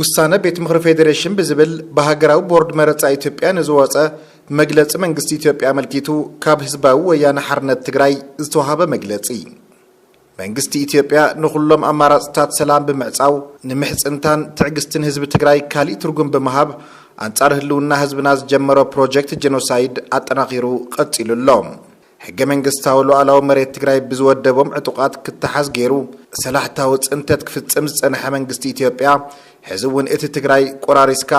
ውሳነ ቤት ምኽሪ ፌዴሬሽን ብዝብል ብሃገራዊ ቦርድ መረፃ ኢትዮጵያ ንዝወፀ መግለፂ መንግስቲ ኢትዮጵያ ኣመልኪቱ ካብ ህዝባዊ ወያነ ሓርነት ትግራይ ዝተዋሃበ መግለፂ መንግስቲ ኢትዮጵያ ንኹሎም ኣማራፅታት ሰላም ብምዕፃው ንምሕፅንታን ትዕግስትን ህዝቢ ትግራይ ካሊእ ትርጉም ብምሃብ ኣንፃር ህልውና ህዝብና ዝጀመሮ ፕሮጀክት ጄኖሳይድ ኣጠናኺሩ ቀፂሉ ኣሎ። ሕገ መንግስታዊ ሉኣላዊ መሬት ትግራይ ብዝወደቦም ዕጡቓት ክተሓዝ ገይሩ ሰላሕታዊ ፅንተት ክፍፅም ዝፀንሐ መንግስቲ ኢትዮጵያ ሕዚ እውን እቲ ትግራይ ቆራሪስካ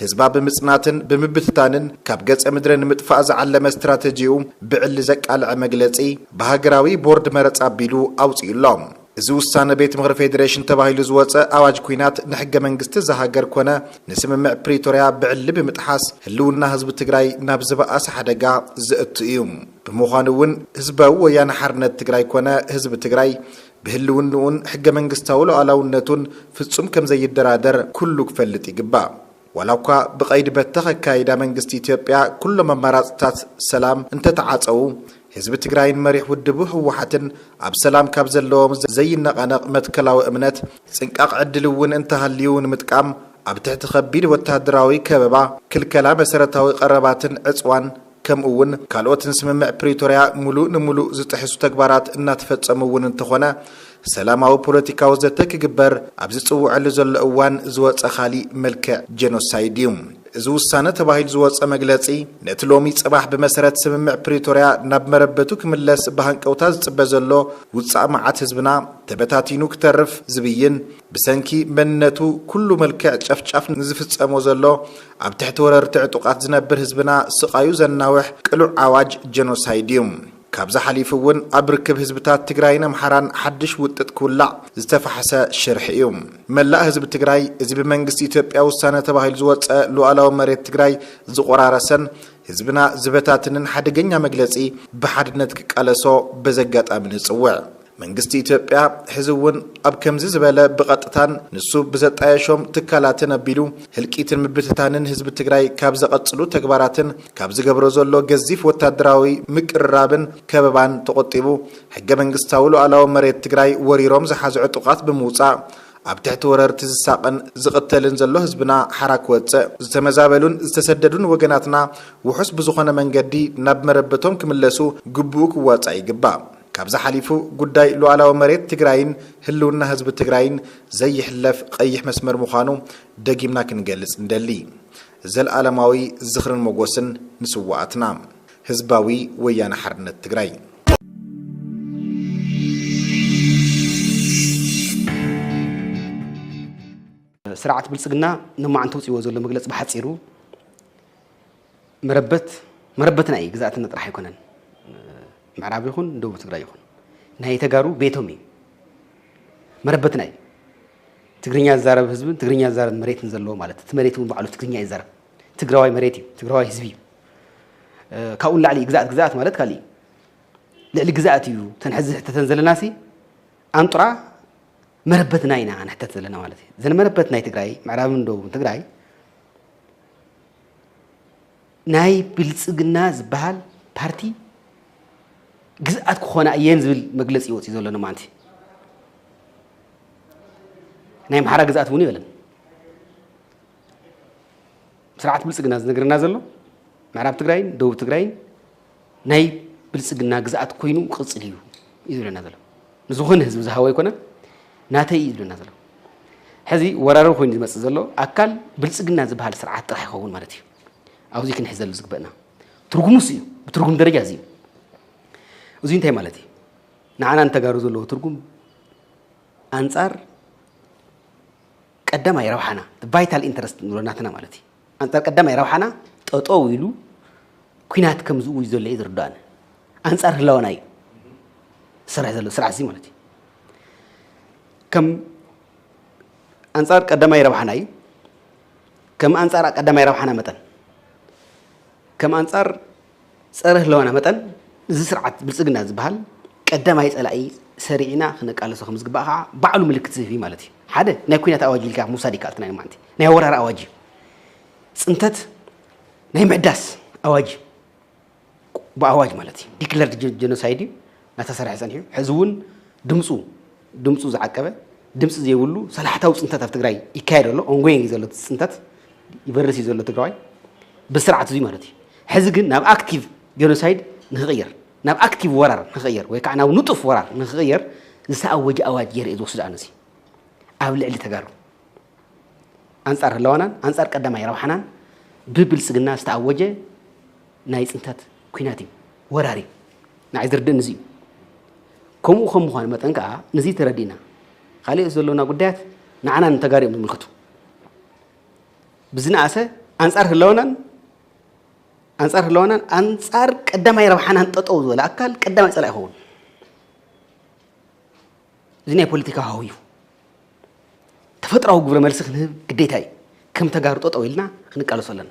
ህዝባ ብምፅናትን ብምብትታንን ካብ ገፀ ምድሪ ንምጥፋእ ዝዓለመ ስትራተጂኡ ብዕሊ ዘቃልዐ መግለፂ ብሃገራዊ ቦርድ መረፃ ኣቢሉ ኣውፂኡ ኣሎ። እዚ ውሳነ ቤት ምኽሪ ፌዴሬሽን ተባሂሉ ዝወፀ ኣዋጅ ኲናት ንሕገ መንግስቲ እዛ ሃገር ኮነ ንስምምዕ ፕሪቶሪያ ብዕሊ ብምጥሓስ ህልውና ህዝቢ ትግራይ ናብ ዝበኣሰ ሓደጋ ዘእቱ እዩ። ብምዃኑ እውን ህዝባዊ ወያነ ሓርነት ትግራይ ኮነ ህዝቢ ትግራይ ብህልውንኡን ሕገ መንግስታዊ ሉኣላውነቱን ፍፁም ከምዘይደራደር ኩሉ ክፈልጥ ይግባእ። ዋላኳ ብቐይዲ በተኽ ኣካይዳ መንግስቲ ኢትዮጵያ ኩሎም ኣማራፅታት ሰላም እንተተዓፀዉ ህዝቢ ትግራይን መሪሕ ውድቡ ህወሓትን ኣብ ሰላም ካብ ዘለዎም ዘይነቓነቕ መትከላዊ እምነት ፅንቃቕ ዕድል እውን እንተሃልዩ ንምጥቃም ኣብ ትሕቲ ከቢድ ወታደራዊ ከበባ፣ ክልከላ መሰረታዊ ቀረባትን ዕፅዋን፣ ከምኡ እውን ካልኦት ንስምምዕ ፕሪቶርያ ሙሉእ ንሙሉእ ዝጥሕሱ ተግባራት እናተፈፀሙ እውን እንተኾነ ሰላማዊ ፖለቲካዊ ዘተ ክግበር ኣብ ዝፅውዐሉ ዘሎ እዋን ዝወፀ ካሊእ መልክዕ ጀኖሳይድ እዩ እዚ ውሳነ ተባሂሉ ዝወፀ መግለፂ። ነቲ ሎሚ ፅባሕ ብመሰረት ስምምዕ ፕሪቶርያ ናብ መረበቱ ክምለስ ብሃንቀውታ ዝፅበ ዘሎ ውፃእ መዓት ህዝብና ተበታቲኑ ክተርፍ ዝብይን ብሰንኪ መንነቱ ኩሉ መልክዕ ጨፍጫፍ ንዝፍፀሞ ዘሎ ኣብ ትሕቲ ወረርቲ ዕጡቓት ዝነብር ህዝብና ስቓዩ ዘናውሕ ቅሉዕ ኣዋጅ ጀኖሳይድ እዩ። ካብዚ ሓሊፉ እውን ኣብ ርክብ ህዝብታት ትግራይን ኣምሓራን ሓድሽ ውጥጥ ክውላዕ ዝተፋሕሰ ሽርሒ እዩ። መላእ ህዝቢ ትግራይ እዚ ብመንግስቲ ኢትዮጵያ ውሳነ ተባሂሉ ዝወፀ ሉኣላዊ መሬት ትግራይ ዝቖራረሰን ህዝብና ዝበታትንን ሓደገኛ መግለፂ ብሓድነት ክቃለሶ በዚ ኣጋጣሚ ንፅውዕ። መንግስቲ ኢትዮጵያ ሕዚ እውን ኣብ ከምዚ ዝበለ ብቐጥታን ንሱ ብዘጣየሾም ትካላትን ኣቢሉ ህልቂትን ምብትታንን ህዝቢ ትግራይ ካብ ዘቐፅሉ ተግባራትን ካብ ዝገብሮ ዘሎ ገዚፍ ወታደራዊ ምቅርራብን ከበባን ተቖጢቡ ሕገ መንግስታዊ ሉኣላዊ መሬት ትግራይ ወሪሮም ዝሓዙ ዕጡቓት ብምውፃእ ኣብ ትሕቲ ወረርቲ ዝሳቐን ዝቕተልን ዘሎ ህዝብና ሓራ ክወፅእ፣ ዝተመዛበሉን ዝተሰደዱን ወገናትና ውሑስ ብዝኾነ መንገዲ ናብ መረበቶም ክምለሱ ግቡኡ ክዋፃእ ይግባእ። ካብዚ ሓሊፉ ጉዳይ ሉኣላዊ መሬት ትግራይን ህልውና ህዝቢ ትግራይን ዘይሕለፍ ቐይሕ መስመር ምዃኑ ደጊምና ክንገልፅ ንደሊ። ዘልኣለማዊ ዝኽርን ሞጎስን ንስዋኣትና! ህዝባዊ ወያነ ሓርነት ትግራይ! ስርዓት ብልፅግና ሎማዕንቲ ኣውፂእዎ ዘሎ መግለፂ ብሓፂሩ መረበት መረበትና እዩ ግዝኣትና ጥራሕ ኣይኮነን ምዕራብ ይኹን ደቡብ ትግራይ ይኹን ናይ ተጋሩ ቤቶም እዩ መረበትና እዩ ትግርኛ ዝዛረብ ህዝብን ትግርኛ ዝዛረብ መሬትን ዘለዎ ማለት እቲ መሬት እውን ባዕሉ ትግርኛ ይዛረብ ትግራዋይ መሬት እዩ ትግራዋይ ህዝቢ እዩ ካብኡ ንላዕሊ ግዛኣት ግዛኣት ማለት ካሊእ እዩ ልዕሊ ግዛኣት እዩ ተን ሕዚ ሕተተን ዘለና ሲ ኣንጡራ መረበትና ኢና ንሕተት ዘለና ማለት እዩ ዘን መረበት ናይ ትግራይ ምዕራብን ደቡብን ትግራይ ናይ ብልፅግና ዝበሃል ፓርቲ ግዝኣት ክኾና እየን ዝብል መግለፂ ይወፅእ ዘሎ ንማንቲ ናይ ኣምሓራ ግዝኣት እውን ይበለን ስርዓት ብልፅግና ዝነገረና ዘሎ ምዕራብ ትግራይን ደቡብ ትግራይን ናይ ብልፅግና ግዝኣት ኮይኑ ክቕፅል እዩ እዩ ዝብለና ዘሎ ንዝኾነ ህዝቢ ዝሃቦ ኣይኮነን ናተይ እዩ ዝብለና ዘሎ ሕዚ ወራሪ ኮይኑ ዝመፅእ ዘሎ ኣካል ብልፅግና ዝበሃል ስርዓት ጥራሕ ይኸውን ማለት እዩ ኣብዚ ክንሕዘሉ ዝግበእና ትርጉሙስ እዩ ብትርጉም ደረጃ እዚ እዩ እዚ እንታይ ማለት እዩ ንዓና ንተጋሩ ዘለዎ ትርጉም ኣንፃር ቀዳማይ ረብሓና ቫይታል ኢንተረስት ንብሎ ናትና ማለት እዩ ኣንጻር ቀዳማይ ረብሓና ጠጠው ኢሉ ኩናት ከም ዝእውጅ ዘሎ እዩ ዝርዳእኒ። ኣንጻር ህላወና እዩ ዝሰርሕ ዘሎ ስርዓት እዚ ማለት እዩ። ከም ኣንጻር ቀዳማይ ረብሓና እዩ። ከም ኣንጻር ቀዳማይ ረብሓና መጠን ከም ኣንጻር ፀረ ህለዋና መጠን እዚ ስርዓት ብልፅግና ዝበሃል ቀዳማይ ፀላኢ ሰሪዕና ክነቃለሶ ከምዝግባእ ከዓ ባዕሉ ምልክት ዝህብ እዩ ማለት እዩ። ሓደ ናይ ኩናት ኣዋጅ ኢልካ ምውሳድ ይከኣልክና ሎማንቲ ናይ ወራር ኣዋጅ እዩ። ፅንተት ናይ ምሕዳስ ኣዋጅ እዩ። ብኣዋጅ ማለት እዩ ዲክለርድ ጀኖሳይድ እዩ እናተሰርሐ ፀኒሑ ሕዚ እውን ድምፁ ድምፁ ዝዓቀበ ድምፂ ዘይብሉ ሰላሕታዊ ፅንተት ኣብ ትግራይ ይካየድ ኣሎ ኦንጎይንግ እዩ ዘሎ ፅንተት ይበርስ እዩ ዘሎ ትግራዋይ ብስርዓት እዙይ ማለት እዩ ሕዚ ግን ናብ ኣክቲቭ ጀኖሳይድ ንክቕየር ናብ ኣክቲቭ ወራር ንክቕየር ወይ ከዓ ናብ ንጡፍ ወራር ንክቕየር ዝተኣወጀ ኣዋጅ ገይረ እዩ ዝወስዶ ኣነዚ ኣብ ልዕሊ ተጋሩ ኣንፃር ህላዋናን ኣንፃር ቀዳማይ ረብሓናን ብብልፅግና ዝተኣወጀ ናይ ፅንታት ኩናት እዩ ወራሪ ንዓይ ዝርድእን እዚ እዩ ከምኡ ከም ምዃኑ መጠን ከዓ ንዚ ተረዲእና ካልኦት ዘሎና ጉዳያት ንዓና ንተጋሩ እዮም ዝምልክቱ ብዝነኣሰ ኣንፃር ህላወናን ኣንፃር ህላወናን ኣንፃር ቀዳማይ ረብሓናን ጠጠው ዝበለ ኣካል ቀዳማይ ፀላእ ይኸውን እዚ ናይ ፖለቲካ ሃው እዩ ተፈጥራዊ ግብረ መልሲ ክንህብ ግዴታ እዩ። ከም ተጋሩ ጠጠው ኢልና ክንቃለሶ ኣለና።